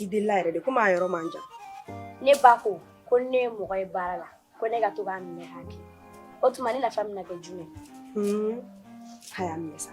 I deli yɛrɛ de ko maa yɔrɔ man jan ne ba ko ko ne ye mɔgɔ ye baara la ko ne ka to k'a minɛ k'a kɛ o tuma ne nafa bɛna kɛ jumɛn hmm. a y'a minɛ sa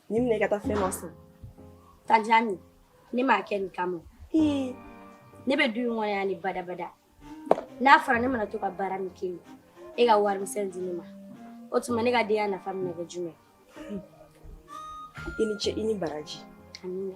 Nin minɛ ka taa fɛn ma san. Tanjani, ne m'a kɛ nin kama. Ee, ne bɛ du in kɔnɔ yan ni badabada. N'a fɔra ne mana to ka baara min kɛ yen, e ka warimisɛn di ne ma. O tuma ne ka denya nafa bɛna kɛ jumɛn? I ni ce i ni baraji. Amina.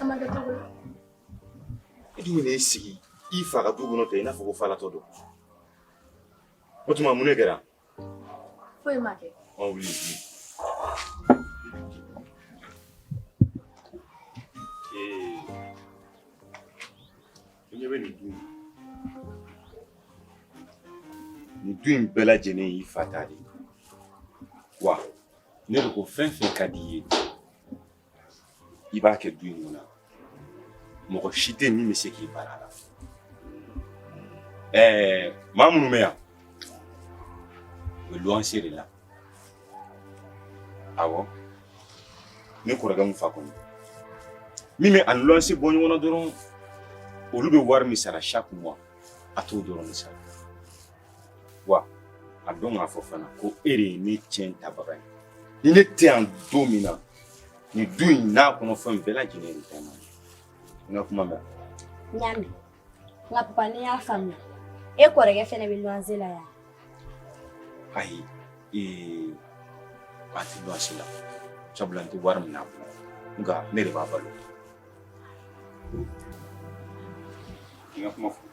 An ma kɛ cogo di? E dun bɛn'i sigi i fa ka du kɔnɔ ten i n'a fɔ ko falatɔ don. O tuma mun de kɛra? Foyi ma kɛ. Ɔ wuli wuli. Ee, i ɲɛ bɛ nin du in na. Nin du in bɛɛ lajɛlen y'i fa ta de ye wa? ne de ko fɛn fɛn ka di i ye i b'a kɛ du in kɔnɔ mɔgɔ si tɛ min bɛ se k'i bali a la ɛɛ maa minnu bɛ yan u bɛ luwanse de la awɔ ne kɔrɔkɛ mun fɛn kelen min bɛ a ni luwanse bɔ ɲɔgɔn na dɔrɔn olu bɛ wari min sara chaque mois a t'o dɔrɔn de sara wa a dɔn k'a fɔ fana ko e de ye ne ciyɛn tabaga ye ni ne tɛ yan don min na nin du in n'a kɔnɔ fɛn bɛɛ lajɛlen y'e de ta ye n ka kuma mɛn. n y'a mɛn nka papa ne y'a faamuya e kɔrɔkɛ fɛnɛ bɛ luwanse la yan. ayi ee a tɛ luwanse la sabula n tɛ wari minɛ a la nka ne de b'a balo. n ka kuma fɔ.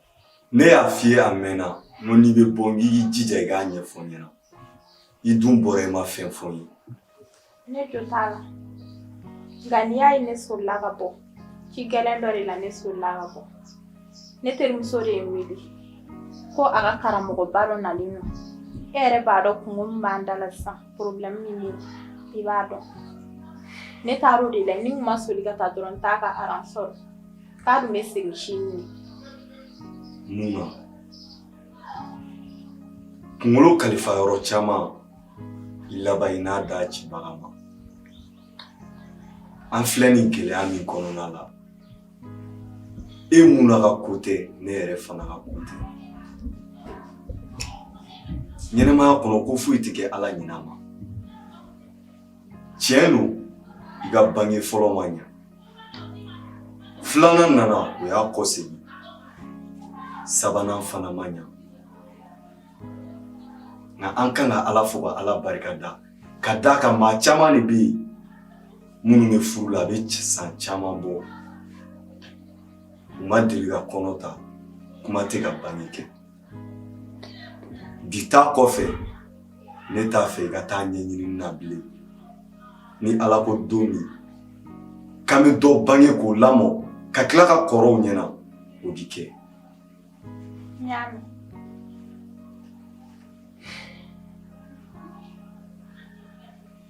Ne y'a f'i ye a mɛnna n ko n'i bɛ bɔ i k'i jija i k'a ɲɛfɔ n ɲɛna i dun bɔra i ma fɛn fɔ n ye. ne jo t'a la nka n'i y'a ye ne solila ka bɔ ci gɛlɛn dɔ de la ne solila ka bɔ ne terimuso de ye n wele ko a ka karamɔgɔba dɔ nalen don e yɛrɛ b'a dɔn kunko min b'an da la sisan porobilɛmu min bɛ yen i b'a dɔn ne taar'o de la ni n kun ma soli ka taa dɔrɔn n t'a ka aran sɔrɔ Pardon, mais c'est le chimie. Muna. Kunkolo kalifa yɔrɔ caman i laban i n'a da cibaga ma an filɛ nin gɛlɛya min kɔnɔna la e Muna ka ko tɛ ne yɛrɛ fana ka ko tɛ ɲɛnamaya kɔnɔ ko foyi tɛ kɛ ala ɲina ma tiɲɛ don i ka bange fɔlɔ ma ɲa filanan nana o y'a kɔ segin sabanan fana ma ɲa nka an kan ka ala fo ka ala barika da k'a d'a kan maa caman de bɛ yen minnu bɛ furu la a bɛ san caman bɔ u ma deli ka kɔnɔ ta kuma tɛ ka bange kɛ Bi ta kɔfɛ ne t'a fɛ i ka taa ɲɛɲini na bilen ni ala ko don min k'an bɛ dɔ bange k'o lamɔ ka tila ka kɔrɔw ɲɛna o di kɛ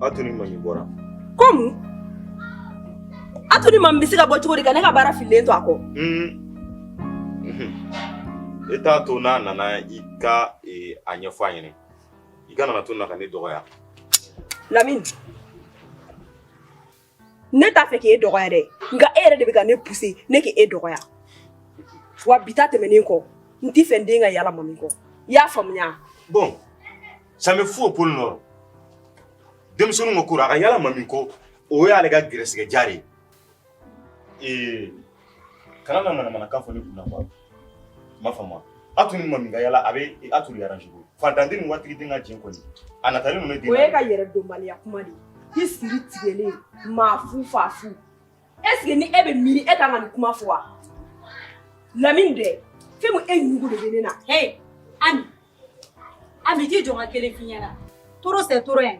Atu ni mami bɔra ko atu ni mami bɛ se ka bɔ cogo di ka ne ka baara fililen to a kɔ e t'a to n'a nana i ka a ɲɛfɔ a ɲini i kana na to n na ka ne dɔgɔya lamini ne t'a fɛ k'e dɔgɔya dɛ nka e yɛrɛ de bɛ ka ne puse ne k' e dɔgɔya wa bi ta tɛmɛnen kɔ n t'a fɛ n den ka yala mami kɔ i y'a faamuya bon ça me fout au pôle nord denmisɛnninw ka ko la a ka yala mami kɔ o y'ale ka gɛrɛsigɛ diya de ye ee kana na manamanakan fɔ ne kunna quoi m'a faamuya atu ni mami ka yala a bɛ atu de aranze ko fantan den ni waritigi den ka jɛn kɔni a natalen ninnu den o y'e ka yɛrɛdɔnbaliya kuma de ye i siri tigɛlen maa fu fa fu est ce que ni e bɛ miiri e ka kan ka nin kuma fɔ wa lamini dɛ fɛn min e ɲugu de bɛ ne na hɛn ami Ami t'i jɔ n ka kelen f'i ɲɛna trop c'est trop hein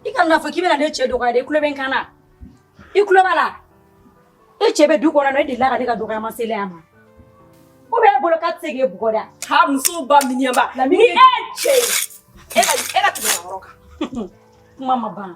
i kana n'a fɔ k'i bɛna ne cɛ dɔgɔya dɛ i tulo bɛ n kan na i tulo b'a la e cɛ bɛ du kɔnɔ e delila ka ne ka dɔgɔya mase ale ma o b'e bolo k'a tɛ se k'e bugɔ dɛ taa musow ba miniɲanba ni e cɛ ye e ka e ka tɛmɛ yɔrɔ kan kuma ma ban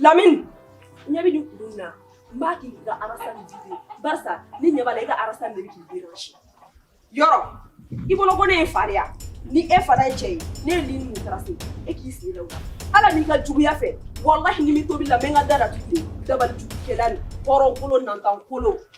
Lamini ɲɛ bɛ ni kun na n b'a k'i ka arasa barisa ni ɲɛ la i ka arasa de k'i den si yɔrɔ i bolo ko ne ye fariya ni e fara ye cɛ ye ne ye nin taara se e k'i sigi la ala n'i ka juguya fɛ walahi ni min tobila n bɛ ka da datugu dabali jugukɛla nin hɔrɔn kolon nantan kolon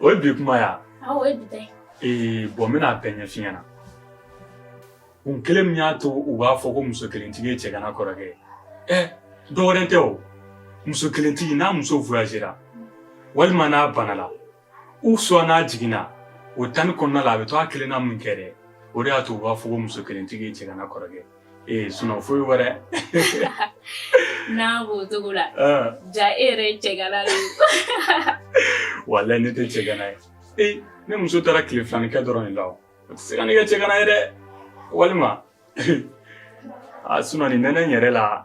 O ye bi kuma ya o ye bi ee bon n bɛna a bɛɛ ɲɛf'i ɲɛna kun kelen min y'a to u b'a fɔ ko muso kelentigi ye cɛgana kɔrɔkɛ ye dɔwɛrɛ tɛ o muso kelentigi n'a muso voyagera walima n'a banala ou soit n'a jiginna o temps nin kɔnɔna la a bɛ to a kelenna min kɛ dɛ o de y'a to u b'a fɔ ko muso kelentigi ye cɛgana kɔrɔkɛ e ee sun foyi wɛrɛ n'a b'o cogo la ja e yɛrɛ ye cɛgana de walahi ne tɛ cɛgana ye ee ne muso taara tile fila nin kɛ dɔrɔn de la o tɛ se ka ne kɛ cɛgana ye dɛ walima a sun nin nɛnɛ yɛrɛ la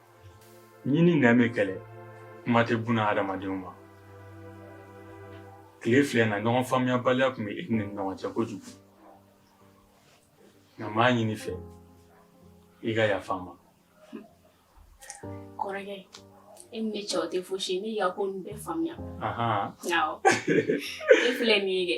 Ɲin ni nɛn bɛ kɛlɛ kuma tɛ buna hadamadenw ma tile fila in na ɲɔgɔn faamuyabaliya tun bɛ an ni ɲɔgɔn cɛ kojugu nka n b'a ɲini i fɛ i ka yafa n ma kɔrɔkɛ e ni ne cɛ o tɛ fosi ye ne y'i ka ko ninnu bɛɛ faamuya awɔ e filɛ nin ye dɛ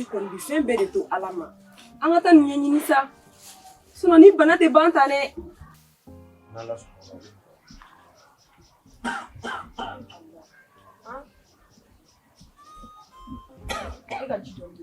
i kɔni bi fɛn bɛɛ de to ala ma an ka taa nin ɲɛɲini sa sinɔn nin bana tɛ ban tan dɛ e ka ji dɔɔni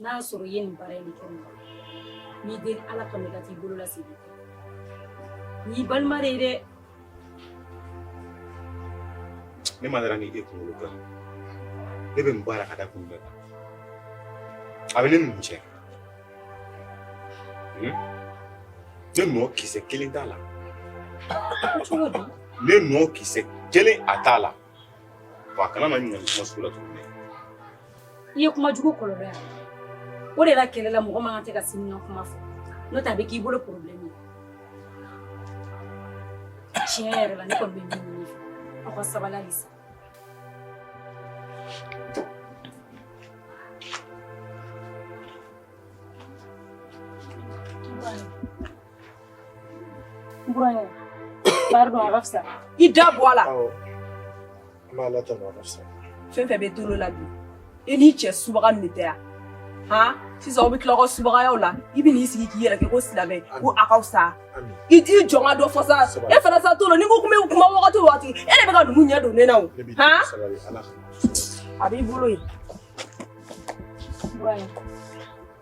n'a y'a sɔrɔ i ye nin baara in kɛ mɔgɔ n b'i deli ala kama i ka t'i bolo lasegin n'i balima de ye dɛ ne ma dara ni e kunkolo kan ne bɛ nin baara ka da kun bɛɛ kan a bɛ ne nugu cɛ ne nɔ kisɛ kelen t'a la cogo di ne nɔ kisɛ kelen a t'a la Wa kana na ɲininkali kuma sugu la tuguni. I ye kuma jugu kɔlɔlɔ y'a la. O de la kɛlɛ la mɔgɔ man kan tɛ ka sini ɲɔgɔn kuma fɔ n'o tɛ a bɛ k'i bolo problème ye. Tiɲɛ yɛrɛ la ne kɔni bɛ min ɲini aw ka sabali halisa. Buraɲɛ, pardon a ka fisa. I da bɔ a la. Awɔ, n b'Ala tanu a ka fisa. Fɛn fɛn bɛ tolo la bi, i n'i cɛ subaga nin de tɛ yan. Han, sisan aw bɛ tila aw ka subagayaw la, i bɛ n'i sigi k'i yɛrɛ kɛ ko silamɛ, ko a ka fisa. Ami. I t'i jɔ n ka dɔ fɔ sa, Sabali. e fana sa to la, n'i ko k'i bɛ kuma wagati o wagati, e de bɛ ka ninnu ɲɛ don ne na o. Ne b'i Han, deli sabali, Ala ka. a b'i bolo yen. Buraɲɛ.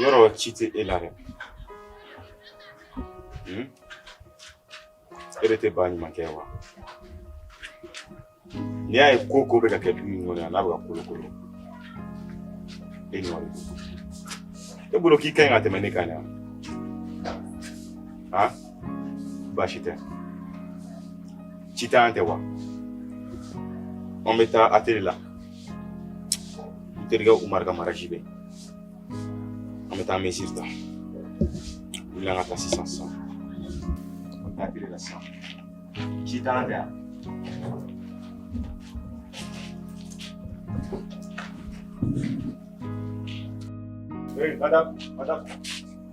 yɔrɔ si tɛ e la dɛ e de tɛ ba ɲuman kɛ wa n'i y'a ye ko ko bɛ ka kɛ du in kɔnɔ yan n'a bɛ ka kolokolo e nɔ de don e bolo k'i ka ɲi ka tɛmɛ ne kan yan baasi tɛ Sitan tɛ wa an bɛ taa atelier la n terikɛ umaru ka mariage bɛ an bɛ taa mesure ta wuli an ka taa sisan sisan an bɛ taa atelier la sisan Sitan tɛ yan Hey, madame, madame.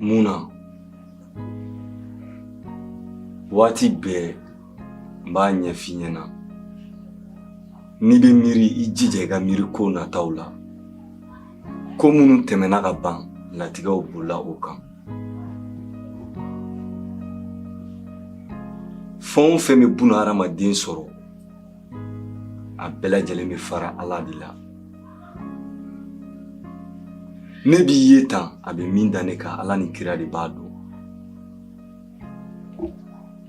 Muna. Waati bɛɛ n b'a ɲɛf'i ɲɛna n'i bɛ miiri i jija i ka miiri ko nataw la ko minnu tɛmɛna ka ban latigɛw bolila o kan fɛn o fɛn bɛ buna hadamaden sɔrɔ a bɛɛ lajɛlen bɛ fara ala de la ne b'i ye tan a bɛ min da ne kan ala ni kira de b'a dɔn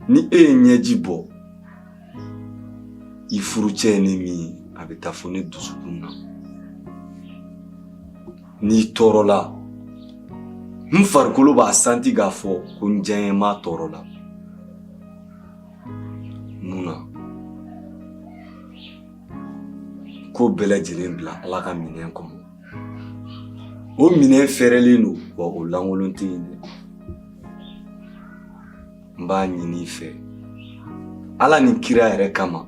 ni e ye ɲɛji bɔ i furucɛ ye ne min ye a bɛ taa fo ne dusukun na n'i tɔɔrɔla n farikolo b'a santi k'a fɔ ko n diyaɲɛmaa tɔɔrɔla Muna ko bɛɛ lajɛlen bila ala ka minɛn kɔnɔ o minɛn fɛrɛlen don wa o lankolon tɛ yen dɛ n b'a ɲini i fɛ ala ni kira yɛrɛ kama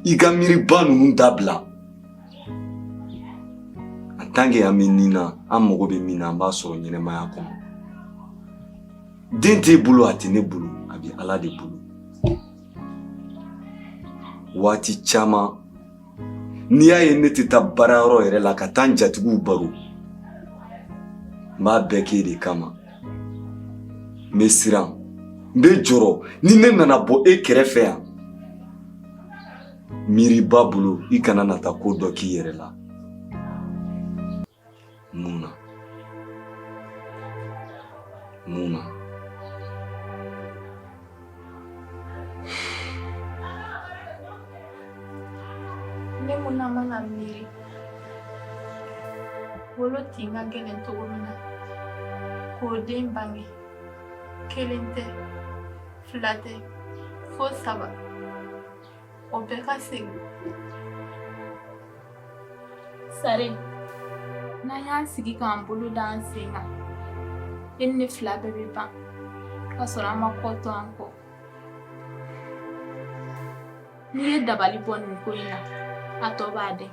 i ka miiriba ninnu dabila an tanke an bɛ nin na an mago bɛ min na an b'a sɔrɔ ɲɛnamaya kɔnɔ den t'e bolo a tɛ ne bolo a bɛ ala de bolo waati caman n'i y'a ye ne tɛ taa baara yɔrɔ yɛrɛ la ka taa n jatigiw baro n b'a bɛɛ k'e de kama n bɛ siran n bɛ jɔrɔ ni ne nana bɔ e kɛrɛfɛ yan miiriba bolo i kana na taa ko dɔ k'i yɛrɛ la Muna. Muna. Ne Muna mana miiri wolotin ka gɛlɛn cogo min na k'o den bange kelen tɛ fila tɛ fo saba O bɛɛ ka segin sari n'an y'an sigi k'an bolo da an sen kan e ni ne fila bɛɛ bɛ ban k'a sɔrɔ an ma kɔ to an kɔ n'i ye dabali bɔ nin ko in na a tɔ b'a dɛn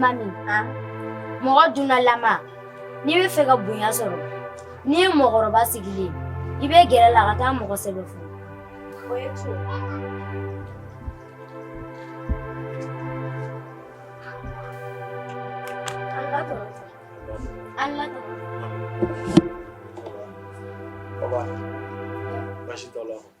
Mami mɔgɔ dunalama n'i b'a fɛ ka bonya sɔrɔ n'i ye mɔgɔkɔrɔba sigilen i bɛ gɛr'a la ka taa mɔgɔ sɛbɛn fo Allah ta Baba. Baasi t'aw la.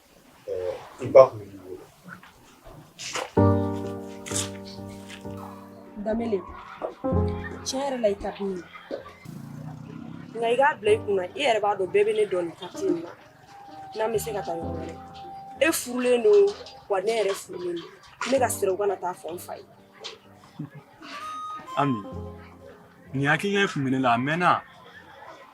damele tiɲɛ yɛrɛ la i ka di ne ye nka i k'a bila i kun na i yɛrɛ b'a dɔn bɛɛ bɛ ne dɔn nin kartiye in na n'an bɛ se ka taa yɔrɔ wɛrɛ e furulen don wa ne yɛrɛ furulen don ne ka siran u kana taa fɔ n fa ye ami nin hakilina in tun bɛ ne la a mɛnna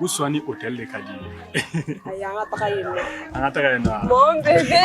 u sɔn ni otɛli de ka d'i ye ayi an ka taga yen nɔ an ka taga yen nɔ mon bébé